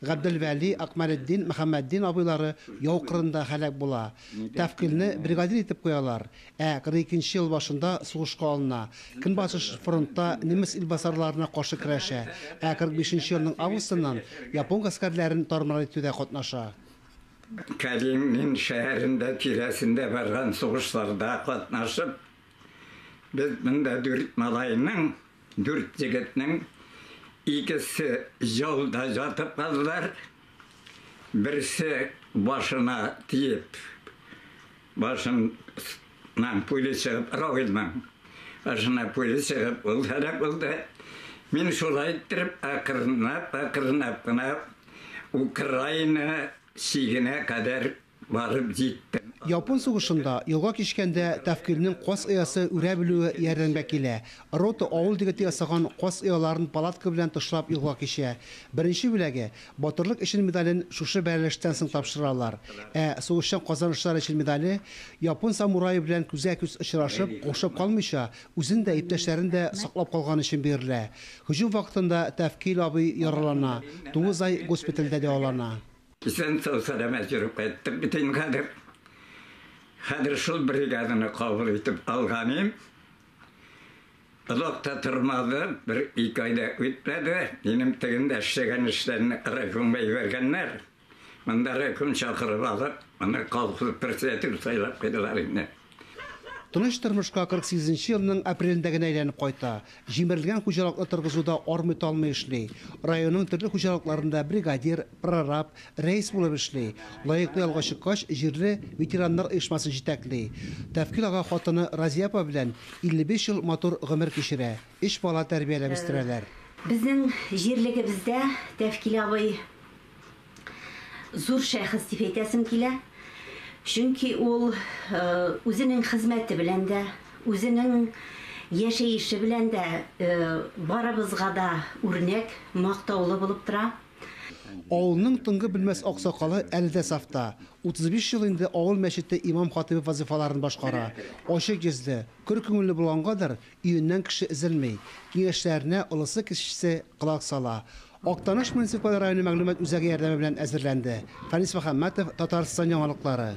Габделвәли, Акмәлетдин, Мөхәммәтдин абыйлары яу кырында һәлак була. Тәфкыйльне бригадир итеп куялар. Ә 42 нче ел башында сугышка алына. Көнбатыш фронтта немец илбасарларына каршы көрәшә, ә 45 нче елның августыннан япон гаскәрләрен тар-мар итүдә катнаша. Калинин шәһәрендә, тирәсендә барган сугышларда катнашып, без монда дүрт малайның Дүрт егетнең икесе ялда ятып калдылар, берсе башына тиеп, башыннан пуля чыгып, Равилнең башына пуля чыгып, ул һәлак булды. Мин шулай иттереп, акрынлап, акрынлап кына Украина чигенә кадәр Барып җиттем. Япон сугышында, елга кичкәндә, Тәфкыйрьнең каз оясы үрә белүе ярдәмгә килә. Рота авыл дегете ясаган каз ояларын палатка белән тышлап елга кичә. Беренче бүләге, Батырлык өчен медален шушы бәрелештән соң тапшыралар. Ә сугышчан казанышлар өчен медале, япон самурае белән күзгә-күз очрашып, каушап калмыйча, үзен дә, иптәшләрен дә саклап калганы өчен бирелә. Һөҗүм вакытында Тәфкыйль абый яралана, тугыз ай госпитальдә дәвалана. Исән сау сәламәт йөреп кайттык бит инде хәзер. Хәзер шул бригаданы кабул итеп алганым. Озак та тормады, бер ике ай да үтмәде, минем тегендә эшләгән эшләрне райкомга җибәргәннәр. Монда райком чакырып алып, моны колхоз председателе сайлап куйдылар инде. Тыныч тормышка 48 нче елның апрелендә генә әйләнеп кайта. Җимерелгән хуҗалыкны торгызуда армый-талмый эшли. Районның төрле хуҗалыкларында бригадир, прораб, рәис булып эшли. Лаеклы ялга чыккач, җирле ветераннар оешмасын җитәкли. Тәфкил ага хатыны Разия апа белән 55 ел матур гомер кичерә, өч бала тәрбияләп үстерәләр. Безнең җирлегебездә Тәфкил абый Зур шәхес дип әйтәсем килә, чөнки ул үзенең хезмәте белән дә, үзенең яшәеше белән дә барыбызга да үрнәк, мактаулы булып тора. Авылның тынгы белмәс аксакалы әле дә сафта, 35 ел инде авыл мәчете имам-хатыйбы вазыйфаларын башкара. Ачык йөзле, көр күңелле булгангадыр, өеннән кеше өзелми, киңәшләренә олысы-кечесе колак сала. Актаныш муниципаль районы мәгълүмат үзәге ярдәме белән әзерләнде. Фәнис Мөхәммәтов, Татарстан яңалыклары.